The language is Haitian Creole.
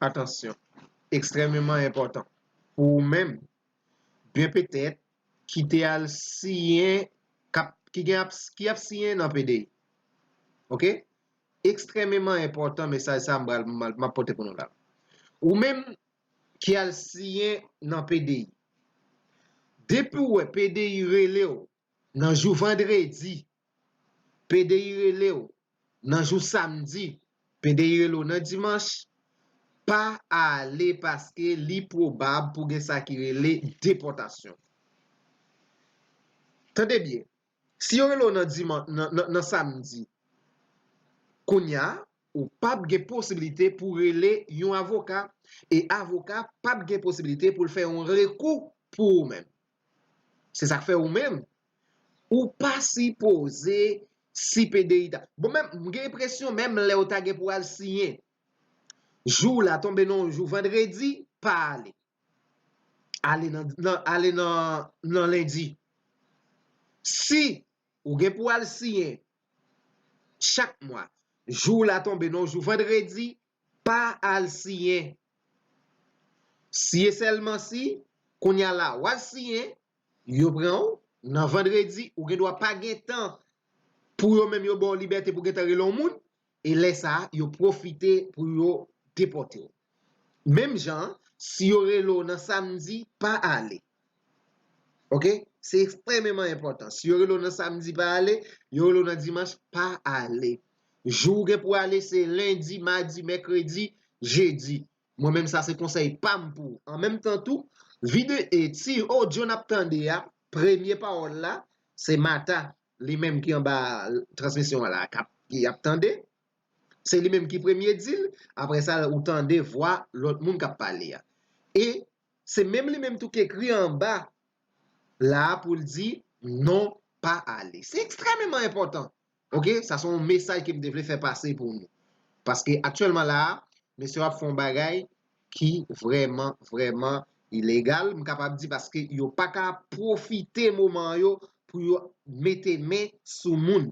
Atansyon ekstrèmeman enpòtan pou ou menm byen petèt ki te al siyen ki ap siyen nan pdi ok ekstrèmeman enpòtan mesaj sa m ap pote pou nou la ou menm ki al siyen nan pdi depi ou wè pdi rele ou nan jou vandredi Pdi rele w nan jou samdi, pdi rele w nan dimanch, pa ale paske li pwobab pou gen sa ki rele depòtasyon. Tande byen, si yo rele w nan samdi, kounya ou pa p gen posibilite pou rele yon avoka e avoka pa p gen posibilite pou l fè yon rekou pou ou menm. Se sa k fè ou menm, ou pa sipoze sipe de Ita. Bon menm, m gen enpresyon menm lè ou ta gen pou al siyen, jou w la tonbe nan yon jou vandredi, pa ale. Ale nan lendi. Si ou gen pou al siyen chak mwa, jou w la tonbe nan yon jou vandredi, Pa al siyen. Siye sèlman si, kounya la w al siyen, yo pran w, nan vandredi, ou gen dwa pa gen tan pou yo menm yo ba w libète pou gentan rele yon moun, e lè sa a, yo pwofite pou yo depòte w. Menm jan an, si yo rele w nan samdi, pa ale. Ok, se ekstrememan enpòtan. Si yo rele w nan samdi pa ale, yo rele w nan dimanch pa ale. Jou ou gen pou ale se lendi, madi, mèkredi, jedi. Mwen menm sa se konsèy pa m pou ou. An menm tan tou, vide e ti odyo n ap tande a, premye pawòl la, se Mata li menm ki anba transmisyon an la kap ki ap tande. Se li menm ki premye di l, apre sa ou tande vwa lòt moun kap pale a. E Se menm li menm tou k ekri anba la a pou l di non pa ale. Se ekstrèmeman enpòtan. Ok, sa se yon mesaj ke m te vle fè pase pou nou. Paske aktyèlman la a, mesye yo ap fè yon bagay ki vrèman, vrèman ilegal. M kapab di paske yo pa ka pwofite moman an yo pou yo mete men sou moun.